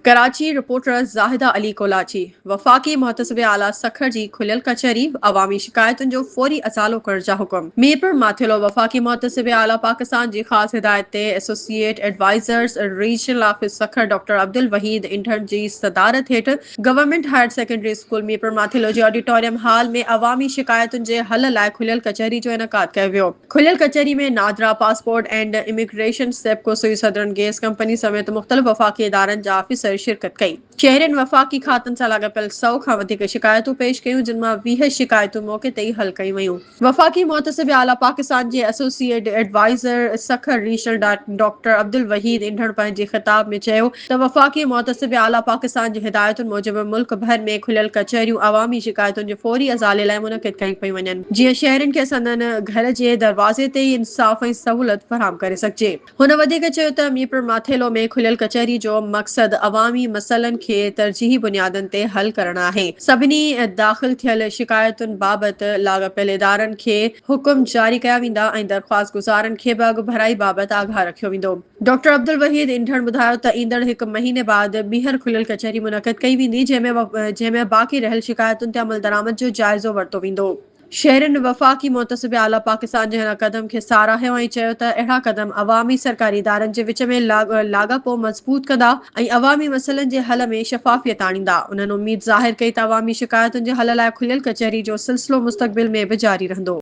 Karachi, reporter, Zahida Ali Kolachi, وفاقي محتسب اعليٰ سکر جي کليل ڪچهري، عوامي شڪايتن جو فوري ازالو ڪرڻ جا حڪم. ميرپور ماٿيلو، وفاقي محتسب اعليٰ پاڪستان جي خاص هدايت تي associate advisers regional office Sukkur doctor Abdulwahid انڍڻ جي صدارت هيٺ government higher secondary school Mirpur Mathelo جي آڊيٽوريم هال ۾ عوامي شڪايتن جي حل لاء کليل ڪچهري جو انعقاد ڪيو ويو. کليل ڪچهري ۾ NADRA passport and immigration, SEPCO, Sui southern gas company سميت مختلف وفاقي ادارن جا آفيسر شرڪت ڪئي. شهرين وفاقي کاتن سان لاڳاپيل سؤ کان وڌيڪ شڪايتون پيش ڪيون جن مان ويهه شڪايتون موقعي تي ئي حل ڪيون ويون. وفاقي محتسب اعليٰ پاڪستان جي associate adviser Sukkur regional doctor Abdulwahid Andhan پنهنجي خطاب ۾ چيو ته وفاقي محتسب اعليٰ پاڪستان جي هدايتن موجب ملڪ ڀر ۾ کليل ڪچهريون عوامي شڪايتن جي فوري ازالي لاء منعقد ڪيون پيون وڃن جيئن شهرين کي سندن گهر جي دروازي تي ئي انصاف ۽ سهولت فراهم ڪري سگهجي. هن وڌيڪ چيو ته ميرپورماٿيلو ۾ کليل ڪچهري جو مقصد عوامي مسئلن کي ترجيحي بنيادن تي حل ڪرڻ آهي، سڀني داخل ٿيل شڪايتن بابت لاڳاپيل ادارن کي حڪم جاري ڪيا ويندا ۽ درخواست گذارن کي به اڳڀرائي بابت آگاهه رکيو ويندو. ڊاڪٽر عبدالوحيد انڍڻ ٻڌايو ته ايندڙ هڪ مهيني بعد ٻيهر کليل ڪچهري منعقد ڪئي ويندي جنهن ۾ جنهن ۾ باقي رهيل شڪايتن تي عملدرآمد جو جائزو ورتو ويندو. شهرين وفاقي محتسب اعليٰ پاڪستان جي هن قدم کي ساراهيو ۽ چيو ته اهڙا قدم عوامي سرڪاري ادارن جي وچ ۾ لاڳاپو مضبوط ڪندا ۽ عوامي مسئلن جي حل ۾ شفافيت آڻيندا. انهن اميد ظاهر ڪئي ته عوامي شڪايتن جي حل لاء کليل ڪچهري جو سلسلو مستقبل ۾ به جاري رهندو.